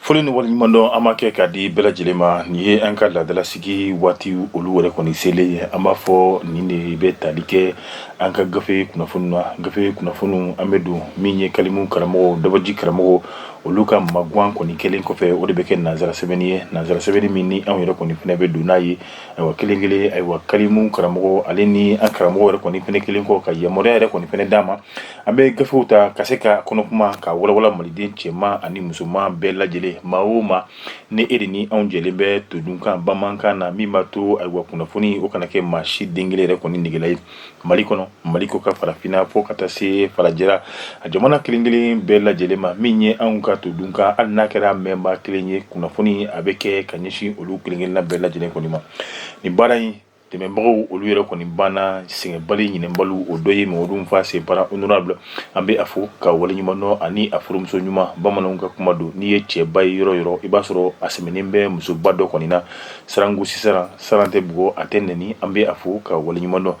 Foli ni waleɲumandɔn an b'a kɛ k'a di bɛɛ lajɛlen ma nin ye an ka laadalasigi waati olu yɛrɛ kɔni selen ye an b'a fɔ nin de bɛ tali kɛ an ka gafe kunnafoni na gafe kunnafoni an bɛ don min ye kalimu karamɔgɔ dabaji karamɔgɔ olu ka magan kɔni kɛlen kɔfɛ o de bɛ kɛ nansara sɛbɛnni ye nansara sɛbɛnni min ni anw yɛrɛ kɔni fɛnɛ bɛ don n'a ye ayiwa kelen kelen ayiwa kalimu karamɔgɔ ale ni an karamɔgɔ yɛrɛ kɔni fɛnɛ kɛlen kɔ ka yamaruya yɛrɛ kɔni fɛnɛ d'a ma An bɛ gafew ta ka se ka kɔnɔkuma ka walawala maliden cɛman ani musoman bɛɛ lajɛlen maa o maa ni e de ni anw jɛlen bɛ todunkan bamanankan na min b'a to ayiwa kunnafoni o kana kɛ maa si den kelen yɛrɛ kɔni negela ye mali kɔnɔ mali kɔkan farafinna fo ka taa se farajɛla a jamana kelen kelen bɛɛ lajɛlen ma min ye anw ka todunkan hali n'a kɛra mɛnba kelen ye kunnafoni a bɛ kɛ ka ɲɛsin olu kelenkelenna bɛɛ lajɛlen kɔni ma nin baara in dɛmɛbagaw olu yɛrɛ kɔni banna sɛgɛnbali ɲinɛnbaliw o dɔ ye mamadu fa sinpara honorable an bɛ a fo k'a waleɲumandɔn ani a furumuso ɲuman bamananw ka kuma don n'i ye cɛba ye yɔrɔ yɔrɔ i b'a sɔrɔ a sɛmɛnen bɛ musoba dɔ kɔni na saran gosi saran saran tɛ bugɔ a tɛ nɛni an bɛ a fo k'a waleɲumandɔn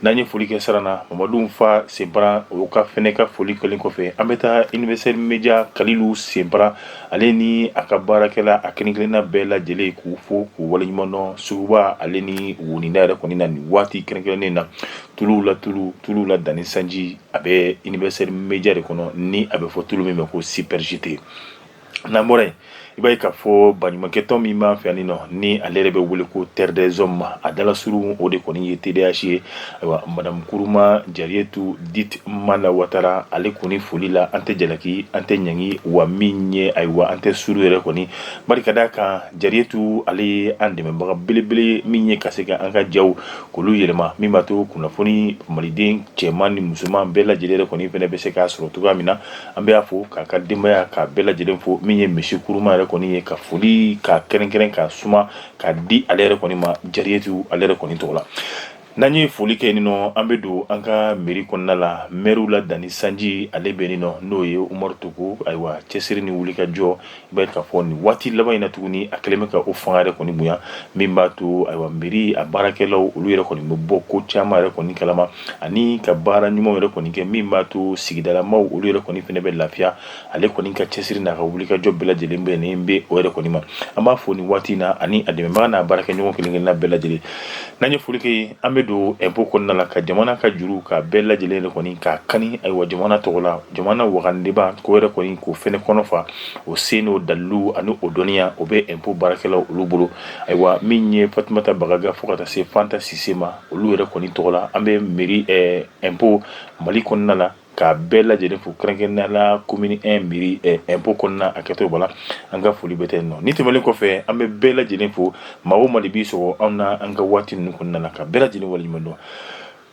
n'an ye foli kɛ saran na mamadu fa sinpara o ka fɛnɛ ka foli kɛlen kɔfɛ an bɛ taa universitaire media kalilu sinpara ale ni a ka baarakɛla a kelen-kelenna bɛɛ lajɛlen k'u fo k'u waleɲumandɔn suguba ale ni woninda yɛrɛ kɔni na nin waati kɛrɛnkɛrɛnnen na tulu la tulu tuluw la danni sanji a bɛ universitaire media de kɔnɔ ni a bɛ fɔ tulu min ma ko supergite n'an bɔra yen i b'a ye k'a fɔ baɲumankɛtɔn min b'an fɛ yan nin nɔ ni ale yɛrɛ bɛ wele ko terre des hommes a dalasurun o de kɔni ye TDH ye Ayiwa madamu kuruma jariyetu dit mala watara ale kɔni foli la an tɛ jalaki an tɛ ɲangi wa min ye ayiwa an tɛ suru yɛrɛ kɔni barika d'a kan jariyetu ale ye an dɛmɛbaga belebele min ye ka se ka an ka ja k'olu yɛlɛma min b'a to kunnafoni maliden cɛman ni musoman bɛɛ lajɛlen yɛrɛ kɔni fɛnɛ bɛ se k'a sɔrɔ cogoya min na an bɛ a fo k'a ka denbaya k'a bɛɛ lajɛlen fo min ye misiye kuruma yɛrɛ kɔni ye ka foli ka kɛrɛnkɛrɛn ka suma ka di ale yɛrɛ kɔni ma jariyetu ale yɛrɛ kɔni tɔgɔ la N'an ye foli kɛ nin nɔ an bɛ don an ka meri kɔnɔna la mɛriw la danni sanji ale bɛ nin nɔ n'o ye umaru togo ayiwa cɛsiri ni wulikajɔ i b'a ye k'a fɔ nin waati laban in na tuguni a kɛlen bɛ ka o fanga yɛrɛ kɔni bonya min b'a to ayiwa meri a baarakɛlaw olu yɛrɛ kɔni bɛ bɔ ko caman yɛrɛ kɔni kalama ani ka baara ɲumanw yɛrɛ kɔni kɛ min b'a to sigidalamaw olu yɛrɛ kɔni fɛnɛ bɛ lafiya ale kɔni ka cɛsiri n'a ka wulikajɔ bɛɛ lajɛlen bɛnnen bɛ o yɛrɛ kɔni ma an b'a fɔ nin waati in na ani a dɛmɛbaga n'a baarakɛɲɔgɔn kelen kelenna bɛɛ lajɛlen n'an ye foli kɛ an bɛ don impôt kɔnɔna la ka jamana ka juru k'a bɛɛ lajɛlen yɛrɛ kɔni k'a kani ayiwa jamana tɔgɔ la jamana wagandeba k'o yɛrɛ kɔni k'o fɛnɛ kɔnɔ fa o se n'o dalilu ani o dɔnniya o bɛ impôt baarakɛlaw olu bolo ayiwa min ye fatumata bagaga fo ka taa se fanta sise ma olu yɛrɛ kɔni tɔgɔ la an bɛ meri impôt mali kɔnɔna la ka bɛɛ lajɛlen fo kɛrɛnkɛrɛnnenya la commune 1 mairie ɛ impôt kɔnɔna a kɛtɔ b'a la an ka foli bɛ tɛ yen nɔ ni tɛmɛnen kɔfɛ an bɛ bɛɛ lajɛlen fo maa o maa de b'i sɔgɔ anw na an ka waati ninnu kɔnɔna na ka bɛɛ lajɛlen waleɲuman dɔn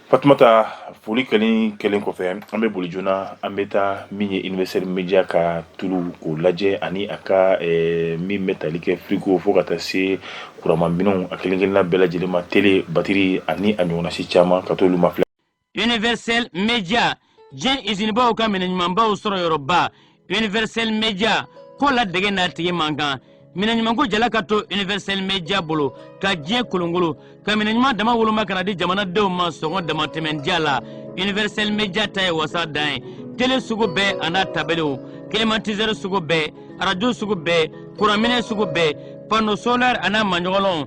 Fatumata foli kɛlen kɛlen kɔfɛ an bɛ boli joona an bɛ taa min ye Universel Media ka t'olu ko lajɛ ani a ka ɛɛ min bɛ tali kɛ frigo fo ka taa se kurama minɛnw a kelen kelenna bɛɛ lajɛlen ma télé batterie ani a ɲɔgɔnna si caman ka t'olu ma filɛ universel media diɲɛ izinibaw ka minɛ ɲumanbaw sɔrɔ yɔrɔba universel media ko ladege n'a tigi man kan minɛ ɲumanko jala ka to universel media bolo ka diɲɛ kolonkolon ka minɛ ɲuman dama woloma ka na di jamanadenw ma sɔngɔ damatɛmɛndiya la universel media ta ye wasa dan ye tele sugu bɛɛ an'a tabelew kilimatizɛri sugu bɛɛ arajo sugu bɛɛ kuranminɛ sugu bɛɛ pano solɛri an'a maɲɔgɔlɔnw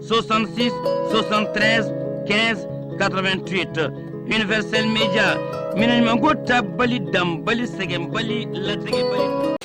66 73 15 88 universel media minɛnɲumanko ta bali dan bali sɛgɛn bali latɛgɛ bali.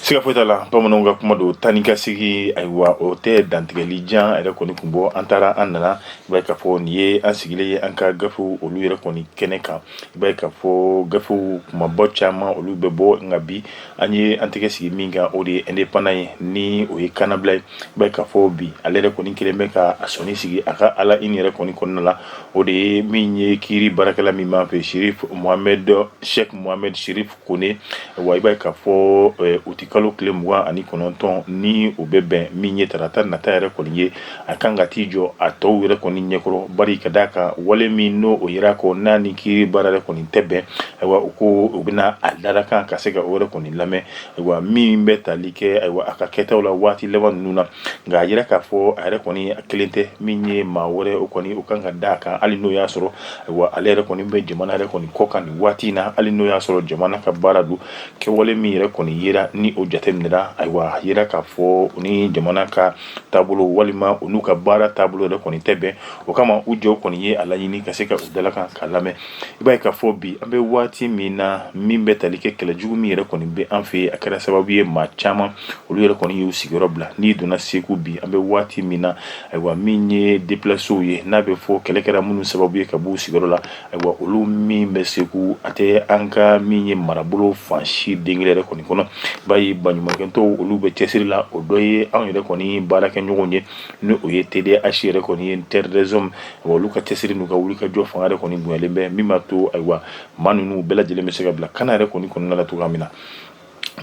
siga foyi t'a la bamananw ka kuma don taa ni ka segi ayiwa o tɛ dantigɛli jan yɛrɛ kɔni kun bɔ an taara an nana i b'a ye k'a fɔ nin ye an sigilen ye an ka gafew olu yɛrɛ kɔni kɛnɛ kan I b'a ye k'a fɔ gafew kumabɔ caman olu bɛ bɔ nka bi an ye an tɛgɛ sigi min kan o de ye Indépendant ye ni o ye kanabila ye i b'a ye k'a fɔ bi ale yɛrɛ kɔni kɛlen bɛ ka a sɔnni sigi a ka à la une yɛrɛ kɔni kɔnɔna la o de ye min ye kiiri baarakɛla min b'an fɛ Chérif Mohamed Cheick Mohamed Chérif Kone wa i b'a ye k'a fɔ uti kalo tile mugan ani kɔnɔntɔn ni o bɛ bɛn min ye tarata nata yɛrɛ kɔni ye a kan ka t'i jɔ a tɔw yɛrɛ kɔni ɲɛkɔrɔ bari ka d'a kan wale min n'o o yera ko n'a ni kiiri baara yɛrɛ kɔni tɛ bɛn ayiwa u ko u bɛna a dalakan ka se ka o yɛrɛ kɔni lamɛn ayiwa min bɛ tali kɛ ayiwa a ka kɛtaw la waati laban ninnu na nka a yira k'a fɔ a yɛrɛ kɔni a kelen tɛ min ye maa wɛrɛ o kɔni o kan ka d'a kan hali n'o y'a sɔrɔ wa ale yɛrɛ kɔni bɛ jamana yɛrɛ kɔni kɔkan nin waati in na hali n'o y'a sɔrɔ jamana ka baara don kɛwale min yɛrɛ kɔni yera ni o jate minɛra ayiwa a yira k'a fɔ u ni jamana ka taabolo walima u n'u ka baara taabolo yɛrɛ kɔni tɛ bɛn o kama u jɔ kɔni ye a laɲini ka se ka u dalakan ka lamɛn i b'a ye k'a fɔ bi an bɛ waati min na min bɛ tali kɛ kɛlɛ jugu min yɛrɛ kɔni bɛ an fɛ yen a kɛra sababu ye maa caman olu yɛrɛ kɔni y'u sigiyɔrɔ bila n'i donna segu bi an bɛ waati min na ayiwa min ye deplasew ye n'a bɛ fɔ kɛlɛ kɛra minnu sababu ye ka b'u sigiyɔrɔ la ayiwa olu min bɛ segu a tɛ an ka min ye marabolo fan si de kelen yɛrɛ kɔni kɔnɔ i b'a ye baɲumankɛtɔnw olu bɛ cɛsiri la o dɔ ye anw yɛrɛ kɔni baarakɛɲɔgɔn ye ni o ye TDH yɛrɛ kɔni ye Terre des Hommes olu ka cɛsiri n'u ka wuli ka jɔ fanga yɛrɛ kɔni bonyalen bɛ min b'a to ayiwa maa ninnu bɛɛ lajɛlen bɛ se ka bila kana yɛrɛ kɔni kɔnɔna la cogoya min na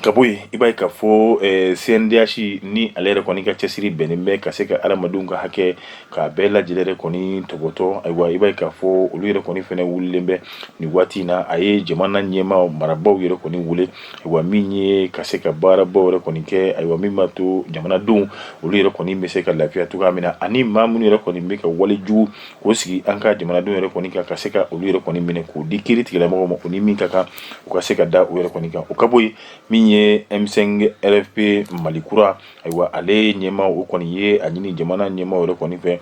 ka bɔ yen i b'a ye k'a fɔ eh, CNDH ni ale yɛrɛ kɔni ka cɛsiri bɛnnen bɛ ka se ka adamadenw ka hakɛ k'a bɛɛ lajɛlen yɛrɛ kɔni tɔbɔtɔ ayiwa i b'a ye k'a fɔ olu yɛrɛ kɔni fɛnɛ wulilen bɛ nin waati in na a ye jamana ɲɛmaaw marabaaw yɛrɛ kɔni wele ayiwa min ye ka se ka baarabaw yɛrɛ kɔni kɛ ayiwa min b'a to jamanadenw olu yɛrɛ kɔni bɛ se ka lafiya cogoya min na ani maa minnu yɛrɛ kɔni bɛ ka wale jugu k'o sigi an ka jamanadenw yɛrɛ kɔni kan ka se ka olu yɛrɛ kɔni minɛ k'o di kiri tigilamɔgɔw ma u ni min ka kan o ka se ka da u yɛrɛ kɔni kan o ka bɔ yen min ye M5 RFP Mali kura ayiwa ale ɲɛmaa o kɔni ye a ɲini jamana ɲɛmaa yɛrɛ kɔni fɛ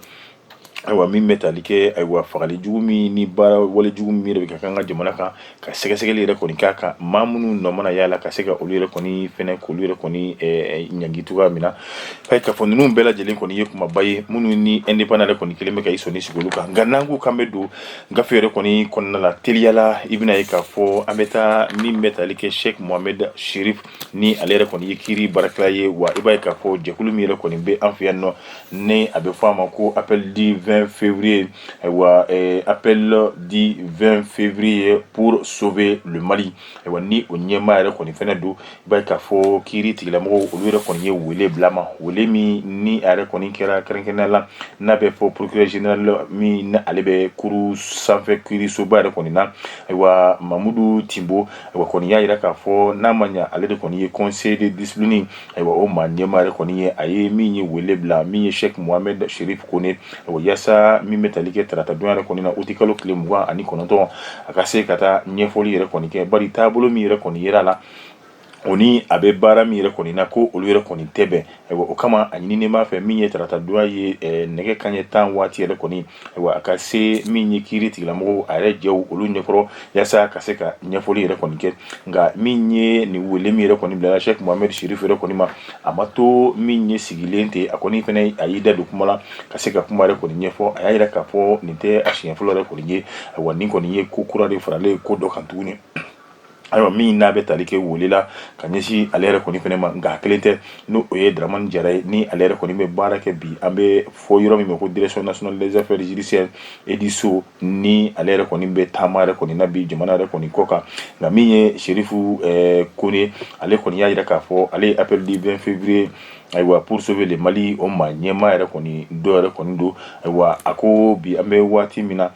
ayiwa min bɛ tali kɛ ayiwa fagali jugu min ni baara wale jugu min yɛrɛ bɛ ka kɛ an ka jamana kan ka sɛgɛsɛgɛli yɛrɛ kɔni k'a kan maa minnu nɔ mana y'a la ka se ka olu yɛrɛ kɔni fɛnɛ k'olu yɛrɛ kɔni eh, ɲangi cogoya min na eh, k'a fɔ ninnu bɛɛ lajɛlen kɔni ye kumaba ye minnu ni indépendant yɛrɛ kɔni kɛlen bɛ ka i sɔnni sigi olu kan nka n'an ko k'an bɛ don gafe yɛrɛ kɔni kɔnɔna la teliyala i bɛn'a ye k'a fɔ an bɛ taa min bɛ tali kɛ sheikh mohamed sherif ni ale yɛrɛ kɔni ye kiiri baarakɛla ye wa i b'a ye k'a fɔ jɛkulu min yɛrɛ kɔni bɛ an fɛ yan nɔ ni a bɛ fɔ a ma ko appel du 20 février Ayiwa eh, appel du 20 février pour sauver le Mali ayiwa ni o ɲɛmaa yɛrɛ kɔni fɛnɛ don i b'a ye k'a fɔ kiiri tigilamɔgɔw olu yɛrɛ kɔni ye wele bil'a ma wele min ni a yɛrɛ kɔni kɛra kɛrɛnkɛrɛnnenya la n'a bɛ fɔ procureur général min ni ale bɛ cour sanfɛ kiirisoba yɛrɛ kɔni na ayiwa Mamudu Timbo ayiwa kɔni y'a yira k'a fɔ n'a ma ɲa ale de kɔni ye conseil de discipline Ayiwa o maa ɲɛmaa yɛrɛ kɔni ye a ye min ye wele bila min ye Sheikh Mohamed Sherif Kone yaasa min bɛ tali kɛ taratadonya yɛrɛ kɔni na uti kalo tile mugan ani kɔnɔntɔn a ka se ka taa ɲɛfɔli yɛrɛ kɔni kɛ bari taabolo min yɛrɛ kɔni yera a la o ni a bɛ baara min yɛrɛ kɔni na ko olu yɛrɛ kɔni tɛ bɛn wa o kama a ɲininen b'a fɛ min ye taratadonya ye nɛgɛ kanɲɛ tan waati yɛrɛ kɔni Ayiwa a ka se min ye kiri tigilamɔgɔw a yɛrɛ jɛ olu ɲɛkɔrɔ yaasa ka se ka ɲɛfɔli yɛrɛ kɔni kɛ nka min ye nin wele min yɛrɛ kɔni bilala Sheikh Mohamed Sherif yɛrɛ kɔni ma a ma to min ye sigilen ten a kɔni fɛnɛ a y'i da don kuma la ka se ka kuma yɛrɛ kɔni ɲɛfɔ a y'a yira k'a fɔ nin tɛ a siɲɛ fɔlɔ yɛrɛ kɔni ye wa nin kɔni ye ko kura de faralen ko dɔ kan tuguni ayiwa min n'a bɛ tali kɛ wele la ka ɲɛsin ale yɛrɛ kɔni fɛnɛ ma nka a kelen tɛ n'o ye Dramani Jara ye ni ale yɛrɛ kɔni bɛ baara kɛ bi an b'a fɔ yɔrɔ min ma ko direction nationale des affaires judiciaires et du sceau ni ale yɛrɛ kɔni bɛ taama yɛrɛ kɔni na bi jamana yɛrɛ kɔni kɔ kan nka min ye Sherif Kone ale kɔni y'a yira k'a fɔ ale ye appel du 20 février ayiwa pour sauver le Mali o maa ɲɛmaa yɛrɛ kɔni dɔ yɛrɛ kɔni don ayiwa a ko bi an bɛ waati min na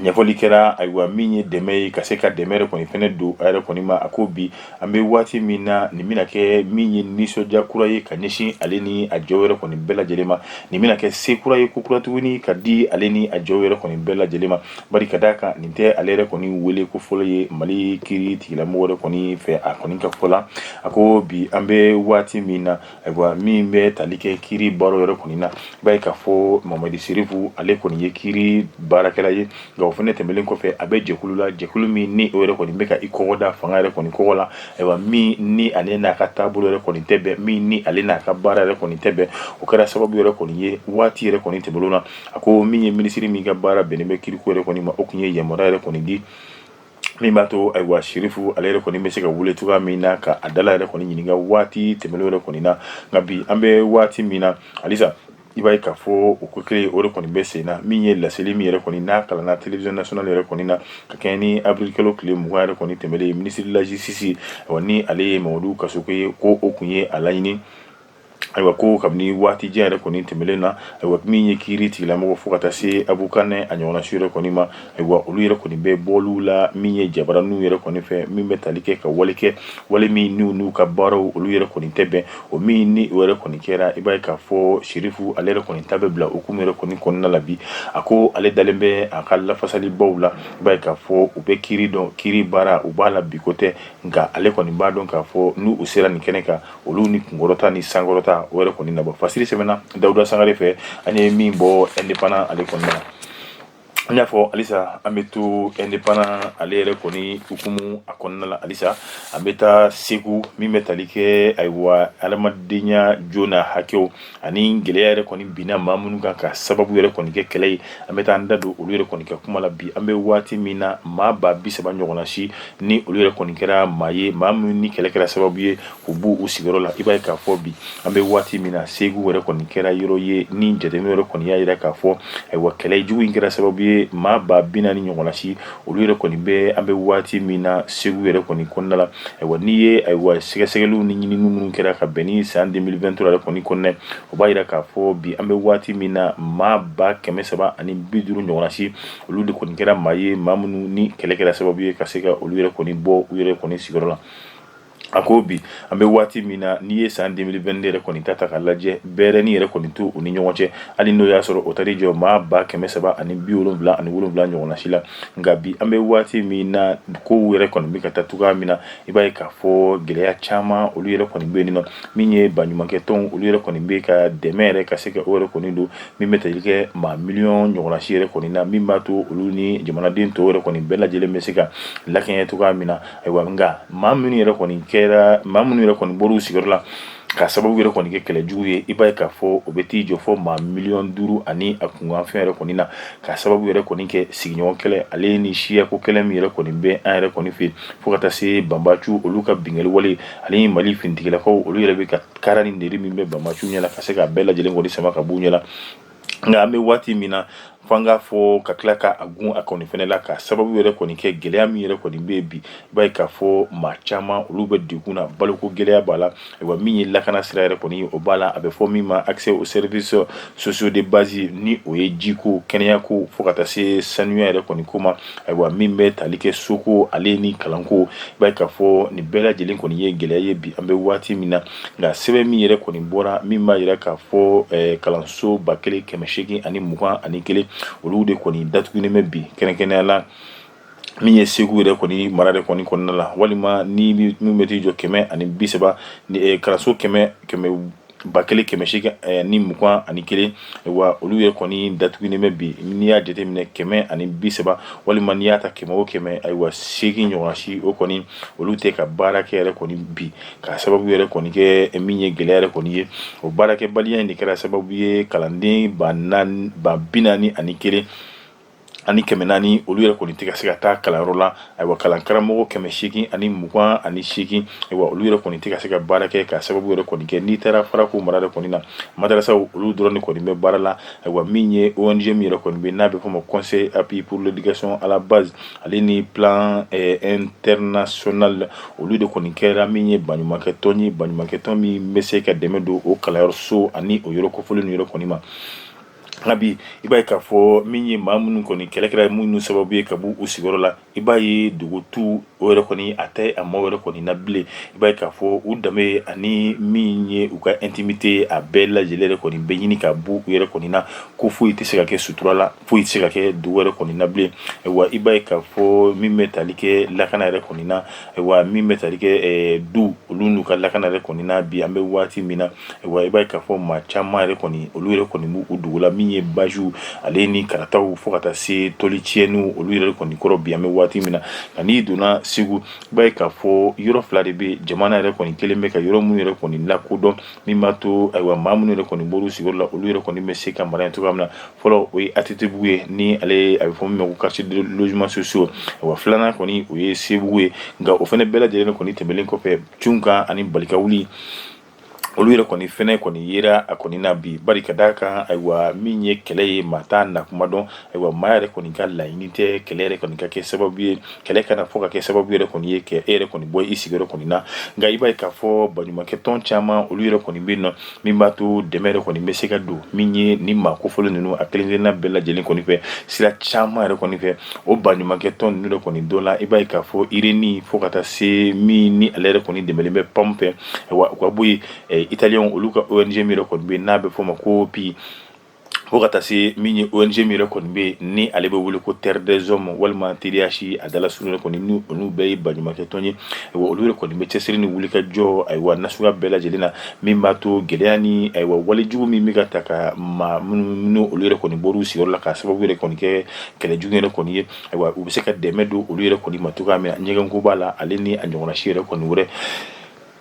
ɲɛfɔli kɛra ayiwa min ye dɛmɛ ye ka se ka dɛmɛ yɛrɛ kɔni fɛnɛ don a yɛrɛ kɔni ma a ko bi an bɛ waati min na nin bɛna kɛ min ye nisɔndiya kura ye ka ɲɛsin ale ni a jɛw yɛrɛ kɔni bɛɛ lajɛlen ma nin bɛna kɛ se kura ye ko kura tuguni ka di ale ni a jɛw yɛrɛ kɔni bɛɛ lajɛlen ma bari ka d'a kan nin tɛ ale yɛrɛ kɔni wele ko fɔlɔ ye mali kiri tigilamɔgɔ yɛrɛ kɔni fɛ a kɔni ka fɔ la a ko bi an bɛ waati min na Ayiwa min bɛ tali kɛ kiri baara yɛrɛ kɔni na i b'a ye k'a fɔ mamadi serifu ale kɔni ye kiri baarakɛla ye nka o fɛnɛ tɛmɛlen kɔfɛ a bɛ jɛkulu la jɛkulu min ni o yɛrɛ kɔni bɛ ka i kɔgɔ da fanga yɛrɛ kɔni kɔgɔ la ayiwa min ni ale n'a ka taabolo yɛrɛ kɔni tɛ bɛn min ni ale n'a ka baara yɛrɛ kɔni tɛ bɛn o kɛra sababu yɛrɛ kɔni ye waati yɛrɛ kɔni tɛmɛlenw na a ko min ye minisiri min ka baara bɛnnen bɛ kiriko yɛrɛ kɔni ma o tun ye yamaruya yɛrɛ kɔni di min b'a to ayiwa sirifu ale yɛrɛ kɔni bɛ se ka wele cogoya min na ka a dala yɛrɛ kɔni ɲininka waati tɛmɛlenw yɛrɛ kɔni na nka bi an bɛ waati min na halisa i b'a ye k'a fɔ o ko kelen o de kɔni bɛ sen na min ye laseli min yɛrɛ kɔni n'a kalanna télévision nationale yɛrɛ kɔni na ka kɛɲɛ ni avril kalo tile mugan yɛrɛ kɔni tɛmɛlen ye ministre de la justice ni ale ye mamadu kasoge ye ko o kun ye a laɲini ayiwa ko kabini waati jan yɛrɛ kɔni tɛmɛlen na ayiwa min ye kiiri tigilamɔgɔ fo ka taa se avocat n'a ɲɔgɔnna si yɛrɛ kɔni ma ayiwa olu yɛrɛ kɔni bɛ bɔliw la min ye jabaraninw yɛrɛ kɔni fɛ min bɛ tali kɛ ka wale kɛ wale min n'u ka baaraw olu yɛrɛ kɔni tɛ bɛn o min ni o yɛrɛ kɔni kɛra i b'a ye k'a fɔ serifu ale yɛrɛ kɔni ta bɛ bila hukumu yɛrɛ kɔni kɔnɔna la bi a ko ale dalen bɛ a ka lafasalibaw la i b'a ye k'a fɔ u bɛ kiiri dɔn kiiri baara u b'a la bi ko tɛ nka ale kɔni b'a dɔn k'a fɔ n'u sera nin kɛnɛ kan olu ni kunkɔrɔta ni sankɔrɔta o yɛrɛ kɔni na bɔ fasiri sɛbɛnna dawuda sangare fɛ an ye min bɔ indépendant ale kɔnɔna la an y'a fɔ halisa an bɛ to indépendant ale yɛrɛ kɔni hukumu a kɔnɔna la halisa an bɛ taa segu min bɛ tali kɛ ayiwa adamadenya jo n'a hakɛw ani gɛlɛya yɛrɛ kɔni binna maa minnu kan ka sababu yɛrɛ kɔni kɛ kɛlɛ ye an bɛ taa an da don olu yɛrɛ kɔni ka kuma la bi an bɛ waati min na maa ba bi saba ɲɔgɔnna si ni olu yɛrɛ kɔni kɛra maa ye maa minnu ni kɛlɛ kɛra sababu ye k'u bɔ u sigiyɔrɔ la i b'a ye k'a fɔ bi an bɛ waati min na segu yɛrɛ kɔni kɛra yɔrɔ ye ni jateminɛ yɛrɛ kɔni y'a jira k'a fɔ ayiwa kɛlɛ jugu in kɛra sababu ye maa ba bi naani ɲɔgɔnna si olu yɛrɛ kɔni bɛ an bɛ waati min na segu yɛrɛ kɔni kɔnɔna la ayiwa n'i ye ayiwa sɛgɛsɛgɛliw ni ɲininiw minnu kɛra ka bɛn ni san 2020 yɛrɛ kɔni kɔnɔna ye o b'a jira k'a fɔ bi an bɛ waati min na maa ba kɛmɛ saba ani bi duuru ɲɔgɔnna si olu de kɔni kɛra maa ye maa minnu ni kɛlɛ kɛra sababu ye ka se ka olu yɛrɛ kɔni bɔ u yɛrɛ kɔni sigiyɔrɔ la A ko bi an bɛ waati min na n'i ye san 2022 yɛrɛ kɔni ta ta k'a lajɛ bɛrɛni yɛrɛ kɔni t'u ni ɲɔgɔn cɛ hali n'o y'a sɔrɔ o taar'i jɔ maa ba kɛmɛ saba ani bi wolonwula ani wolonwula ɲɔgɔnsi la nka bi an bɛ waati min na kow yɛrɛ kɔni bɛ ka taa cogo min na i b'a k'a fɔ gɛlɛya caman olu yɛrɛ kɔni bɛ yen min ye baɲumankɛtɔnw olu yɛrɛ kɔni bɛ ka dɛmɛ yɛrɛ ka se ka o yɛrɛ kɔni don min bɛ tali kɛ maa miliyɔn ɲɔgɔnsi yɛrɛ kɔni na min b'a to olu ni jamanaden tɔw yɛrɛ kɔni bɛɛ lajɛlen bɛ se ka lakɛɲɛ cogo min na ayiwa nka maa minnu yɛrɛ kɔni kɛra maa minnu yɛrɛ kɔni bɔr'u sigiyɔrɔ la ka sababu yɛrɛ kɔni kɛ kɛlɛ jugu ye i b'a ye k'a fɔ o bɛ t'i jɔ fo maa miliyɔn duuru ani a kunkanfɛn yɛrɛ kɔni na ka sababu yɛrɛ kɔni kɛ sigiɲɔgɔn kɛlɛ ale ni siyako kɛlɛ min yɛrɛ kɔni bɛ an yɛrɛ kɔni fɛ fo ka taa se banbacu olu ka binkanni wale ale ni mali finitigilakaw olu yɛrɛ bɛ ka kara ni nɛri min bɛ banbacu ɲɛna ka se ka bɛɛ lajɛlen kɔni sama ka b'u ɲɛna nka an bɛ waati min na fo an k'a fɔ ka tila ka a gun a kɔni fana la ka sababu yɛrɛ kɔni kɛ gɛlɛya min yɛrɛ kɔni bɛ yen bi i b'a ye k'a fɔ maa caman olu bɛ degun na baloko gɛlɛya b'a la ayiwa min ye lakana sira yɛrɛ kɔni o b'a la a bɛ fɔ min ma accès aux services sociaux de base ni o ye jiko kɛnɛyako fo ka taa se sanuya yɛrɛ kɔni ko ma ayiwa min bɛ tali kɛ soko ale ni kalanko i b'a ye k'a fɔ nin bɛɛ lajɛlen kɔni ye gɛlɛya ye bi an bɛ waati min na nka sɛbɛn min yɛrɛ kɔni bɔra min b'a jira k'a fɔ eh, kalanso ba kelen kɛmɛ seegin ani mugan ani kelen olu de kɔni datugulen bɛ bi kɛrɛnkɛrɛnnenya la min ye segu yɛrɛ kɔni mara de kɔni kɔnɔna la walima ni min bɛ t'i jɔ kɛmɛ ani bi saba eh, kalanso kɛmɛ kɛmɛ ba kelen kɛmɛ seegin eh, ni mugan ani kelen wa olu yɛrɛ kɔni datugulen bɛ bi n'i y'a jateminɛ kɛmɛ ani bi saba walima n'i y'a ta kɛmɛ o kɛmɛ ayiwa seegin ɲɔgɔn si o kɔni olu tɛ ka baara kɛ yɛrɛ kɔni bi ka sababu yɛrɛ kɔni kɛ min ye gɛlɛya yɛrɛ kɔni ye o baarakɛbaliya in de kɛra sababu ye kalanden ba bi naani ani kelen ani kɛmɛ naani olu yɛrɛ kɔni tɛ ka se ka taa kalanyɔrɔ la ayiwa kalan karamɔgɔ kɛmɛ seegin ani mugan ani seegin ayiwa olu yɛrɛ kɔni tɛ ka se ka baara kɛ ka sababu yɛrɛ kɔni kɛ n'i taara farako mara de kɔni na madarasaw olu dɔrɔn de kɔni bɛ baara la ayiwa min ye ONG min yɛrɛ kɔni bɛ n'a bɛ fɔ ma conseil appui pour l'éducation à la base ale ni plan international olu de kɔni kɛra min ye baɲumankɛtɔn ye baɲumankɛtɔn min bɛ se ka dɛmɛ don o kalanyɔrɔso ani o yɔrɔ kofɔlen ninnu yɛrɛ kɔni ma nka bi i b'a ye k'a fɔ min ye maa minnu kɔni kɛlɛ kɛra minnu sababu ye ka bɔ u sigiyɔrɔ la i b'a ye dugutu o yɛrɛ kɔni a tɛ a maaw yɛrɛ kɔni na bilen i b'a ye k'a fɔ u danbe ani min ye u ka intimité a bɛɛ lajɛlen yɛrɛ kɔni bɛ ɲini ka bɔ u yɛrɛ kɔni na ko foyi tɛ se ka kɛ sutura la foyi tɛ se ka kɛ dugu yɛrɛ kɔni na bilen wa i b'a ye k'a fɔ min bɛ tali kɛ lakana yɛrɛ kɔni na wa min bɛ tali kɛ du olu n'u ka lakana yɛrɛ kɔni na bi an bɛ waati min na wa i b'a ye k'a fɔ maa caman yɛrɛ kɔni olu yɛrɛ kɔni bɔr'u dugu la min ye basiw ale ni karataw fo ka taa se toli tiɲɛni olu yɛrɛ kɔni kɔrɔ bi an bɛ waati min na nka n'i donna segu i b'a ye k'a fɔ yɔrɔ fila de bɛ jamana yɛrɛ kɔni kelen bɛ ka yɔrɔ minnu yɛrɛ kɔni lakodɔn min b'a to ayiwa maa minnu yɛrɛ kɔni bɔr'u sigiyɔrɔ la olu yɛrɛ kɔni bɛ se ka mara yen cogoya min na fɔlɔ o ye ATTbugu ye ni ale a bɛ fɔ min ma ko quartier de logements sociaux wa filanan kɔni o ye sebugu ye nka o fana bɛɛ lajɛlen kɔni tɛmɛlen kɔfɛ cun kan ani balika wuli olu yɛrɛ kɔni fɛnɛ kɔni yera a kɔni na bi bari ka d'a kan ayiwa min ye kɛlɛ ye maa t'a nakuma dɔn ayiwa maa yɛrɛ kɔni ka laɲini tɛ kɛlɛ yɛrɛ kɔni ka kɛ sababu ye kɛlɛ kana fɔ ka kɛ sababu yɛrɛ kɔni ye kɛ e yɛrɛ kɔni bɔ i sigiyɔrɔ kɔni na nka i b'a ye k'a fɔ baɲumankɛ tɔn caman olu yɛrɛ kɔni bɛ yen nɔ min b'a to dɛmɛ yɛrɛ kɔni bɛ se ka don min ye ni maa kofɔlen ninnu a kelen kelenna bɛɛ lajɛlen kɔni fɛ sira caman yɛrɛ kɔni fɛ o baɲumankɛ tɔn ninnu yɛrɛ kɔni dɔ la i b'a ye k'a fɔ irini fo ka taa se min ni ale yɛrɛ kɔni dɛmɛlen bɛ PAM fɛ ayiwa u ka bɔ yen italiyɛnw olu ka ONG min yɛrɛ kɔni bɛ n'a bɛ fɔ o ma COOPI fo ka taa se min ye ONG min yɛrɛ kɔni bɛ yen ni ale bɛ wele ko terre des hommes walima TDH a dalasurun yɛrɛ kɔni ni olu bɛɛ ye baɲumankɛ tɔn ye ayiwa olu yɛrɛ kɔni bɛ cɛsiri ni wulikajɔ ayiwa n'a suguya bɛɛ lajɛlen na min b'a to gɛlɛya ni ayiwa walejugu min bɛ ka ta ka maa minnu ni olu yɛrɛ kɔni bɔr'u sigiyɔrɔ la k'a sababu yɛrɛ kɔni kɛ kɛlɛjugu yɛrɛ kɔni ye ayiwa u bɛ se ka dɛmɛ don olu yɛrɛ kɔni ma cogoya min na ɲɛgɛnko b'a la ale ni a ɲɔgɔnna si yɛrɛ kɔni wɛrɛ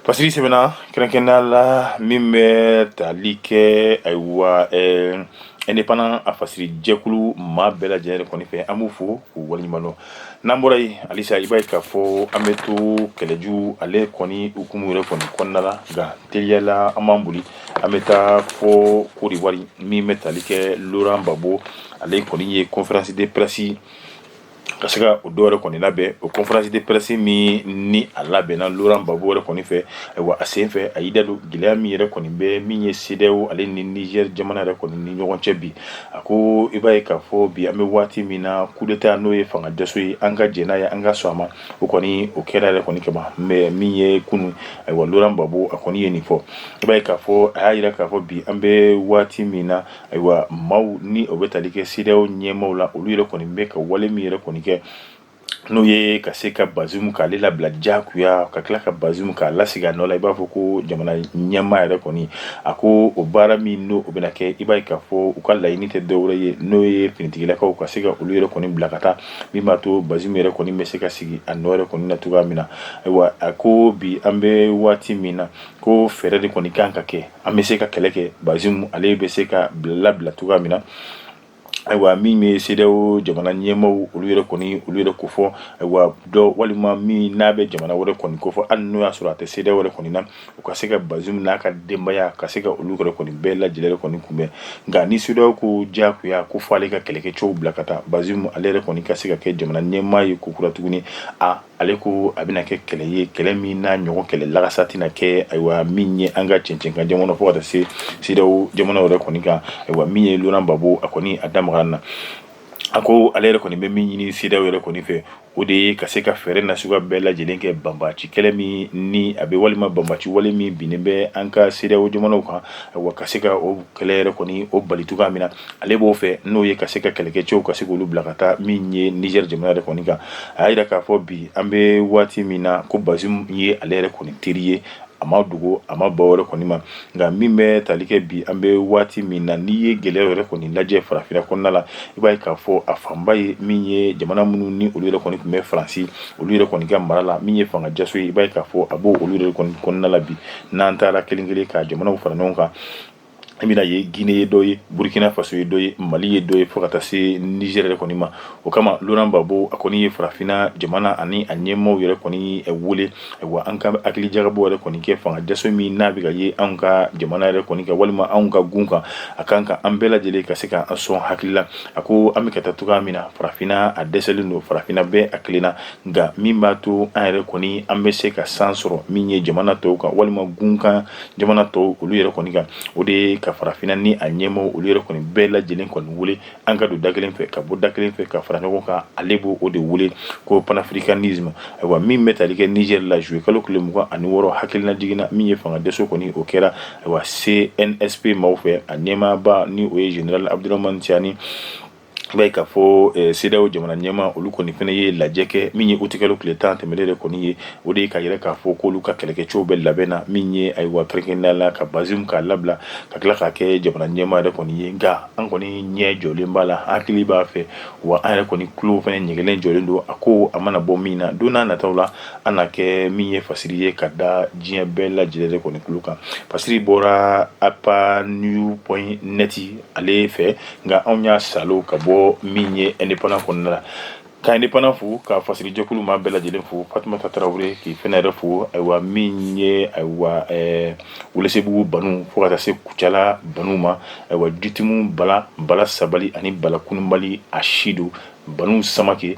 Fasiri sɛbɛnna kɛrɛnkɛrɛnnenya la min bɛ tali kɛ ayiwa ɛɛ indépendant a fasiri jɛkulu maa bɛɛ lajɛlen kɔni fɛ an b'u fo k'u waleɲuman dɔn n'an bɔra yen halisa i b'a ye k'a fɔ an bɛ to kɛlɛjugu ale kɔni hukumu yɛrɛ kɔni kɔnɔna la nka teliya la an b'an boli an bɛ taa fɔ Côte d'Ivoire min bɛ tali kɛ Laurent Gbagbo ale kɔni ye conférence de presse ka se ka o dɔ yɛrɛ kɔni labɛn o conférence de presse min ni a labɛnna Laurent Gbagbo yɛrɛ kɔni fɛ ayiwa a sen fɛ a y'i da don gɛlɛya min yɛrɛ kɔni bɛ min ye CEDEAO ale ni Niger jamana yɛrɛ kɔni ni ɲɔgɔn cɛ bi a ko i b'a ye k'a fɔ bi an bɛ waati min na coup d'état n'o ye fanga dɛsɛ ye an ka jɛn n'a ye an ka sɔn a ma o kɔni o kɛra yɛrɛ kɔni ka ban mais min ye kunun ayiwa Laurent Gbagbo a kɔni ye nin fɔ i b'a ye k'a fɔ a y'a yira k'a fɔ bi an bɛ waati min na Ayiwa maaw ni o bɛ tali kɛ CEDEAO ɲɛmaaw la olu yɛrɛ kɔni bɛ ka wale min yɛrɛ kɔni kɛ n'o ye ka se ka Bazoum k'ale labila jagoya ka tila ka Bazoum k'a lasigi a nɔ la i b'a fɔ ko jamana ɲɛmaa yɛrɛ kɔni a ko o baara min n'o bɛna kɛ i b'a ye k'a fɔ u ka laɲini tɛ dɔwɛrɛ ye n'o ye finitigilakaw ka se ka olu yɛrɛ kɔni bila ka taa min b'a to Bazoum yɛrɛ kɔni bɛ se ka sigi a nɔ yɛrɛ kɔni na cogoya min na ayiwa a ko bi an bɛ waati min na ko fɛɛrɛ de kɔni kan ka kɛ an bɛ se ka kɛlɛ kɛ bazoum ale bɛ se ka bila labila cogoya min na ayiwa min bɛ cedeao jamana ɲɛmaaw olu yɛrɛ kɔni olu yɛrɛ ko fɔ ayiwa dɔ walima min n'a bɛ jamana wɛrɛ kɔni ko fɔ hali n'o y'a sɔrɔ a tɛ cedeao wɛrɛ kɔni na u ka se ka bazoum n'a ka denbaya ka se ka olu yɛrɛ kɔni bɛɛ lajɛlen kɔni kunbɛn nka ni cedeao ko diyagoya ko fɔ ale ka kɛlɛkɛcɛw bila ka taa bazoum ale yɛrɛ kɔni ka se ka kɛ jamana ɲɛmaa ye kokura tuguni a ale ko a bɛna kɛ kɛlɛ ye kɛlɛ min n'a ɲɔgɔn kɛlɛ lagasa tɛna kɛ ayiwa min ye an ka cɛncɛn kan jamana fo ka taa se cedeao jamana yɛrɛ kɔni kan ayiwa min ye laurent gbagbo a kɔni a da magara na a ko ale yɛrɛ kɔni bɛ min ɲini cedeao yɛrɛ kɔni fɛ o de ye ka se ka fɛɛrɛ na suguya bɛɛ lajɛlen kɛ banbaci kɛlɛ min ni a bɛ walima banbaci wale min binnen bɛ an ka cedeao jamanaw kan ayiwa ka se ka o kɛlɛ yɛrɛ kɔni o bali cogoya min na ale b'o fɛ n'o ye ka se ka kɛlɛkɛcɛw ka se k'olu bila ka taa min ye niger jamana yɛrɛ kɔni kan a y'a yira k'a fɔ bi an bɛ waati min na ko bazoum ye ale yɛrɛ kɔni teri ye a ma dogo a ma ba wɛrɛ kɔni ma nka min bɛ tali kɛ bi an bɛ waati min na n'i ye gɛlɛya yɛrɛ kɔni lajɛ farafinna kɔnɔna la i b'a ye k'a fɔ a fanba ye min ye jamana minnu ni olu yɛrɛ kɔni tun bɛ faransi olu yɛrɛ kɔni ka mara la min ye fanga jaso ye i b'a ye k'a fɔ a b'o olu yɛrɛ kɔni kɔnɔna la bi n'an taara kelen kelen ka jamanaw fara ɲɔgɔn kan i bɛna ye guinée ye dɔ ye burkina faso ye dɔ ye mali ye dɔ ye fo ka taa se niger yɛrɛ kɔni ma o kama laurent gbagbo a kɔni ye farafinna jamana ani a ɲɛmaaw yɛrɛ kɔni wele ayiwa an ka hakili jagabɔ yɛrɛ kɔni kɛ fanga jaso min n'a bɛ ka ye anw ka jamana yɛrɛ kɔni kan walima anw ka gun kan a kan ka an bɛɛ lajɛlen ka se ka an sɔn hakili la a ko an bɛ ka taa cogoya min na farafinna a dɛsɛlen don farafinna bɛɛ a kelenna nka min b'a to an yɛrɛ kɔni an bɛ se ka san sɔrɔ min ye jamana tɔw kan walima gun kan jamana tɔw olu yɛrɛ kɔni kan o de ye ka farafinna ni a ɲɛmaaw olu yɛrɛ kɔni bɛɛ lajɛlen kɔni wele an ka don da kelen fɛ ka bɔ da kelen fɛ ka fara ɲɔgɔn kan ale b'o o de wele ko panafricanisme ayiwa min bɛ tali kɛ niger la zuye kalo tile mugan ani wɔɔrɔ hakilina jiginna min ye fanga jaso kɔni o kɛra ayiwa cnsp maaw fɛ a ɲɛmaaba ni o ye général abdourahmane tiani I b'a ye k'a fɔ cedeao jamana ɲɛmaa olu kɔni fɛnɛ ye lajɛ kɛ min ye utikalo tile tan tɛmɛlen de kɔni ye o de ye k'a yira k'a fɔ k'olu ka kɛlɛkɛcɛw bɛ labɛn na min ye ayiwa kɛrɛnkɛrɛnnenya la ka bazoum k'a labila ka tila k'a kɛ jamana ɲɛmaa yɛrɛ kɔni ye nka an kɔni ɲɛ jɔlen b'a la hakili b'a fɛ wa an yɛrɛ kɔni tulo fɛnɛ ɲɛgɛnlen jɔlen don a ko a mana bɔ min na don n'a nataw la an na kɛ min ye fasiri ye ka da diɲɛ bɛɛ lajɛlen kɔni tulo kan fasiri bɔra apanews.net ale fɛ nka anw y'a salo ka bɔ min ye indépendant kɔnɔna la ka indépendant fo ka fasirijɛkulu maa bɛɛ lajɛlen fo fatumata tarawele k'i fɛnɛ yɛrɛ fo ayiwa min ye ayiwa welesebugu banu fo ka taa se kucala banu ma ayiwa jitumu bala bala sabali ani bala kununbali a sido banu samakɛ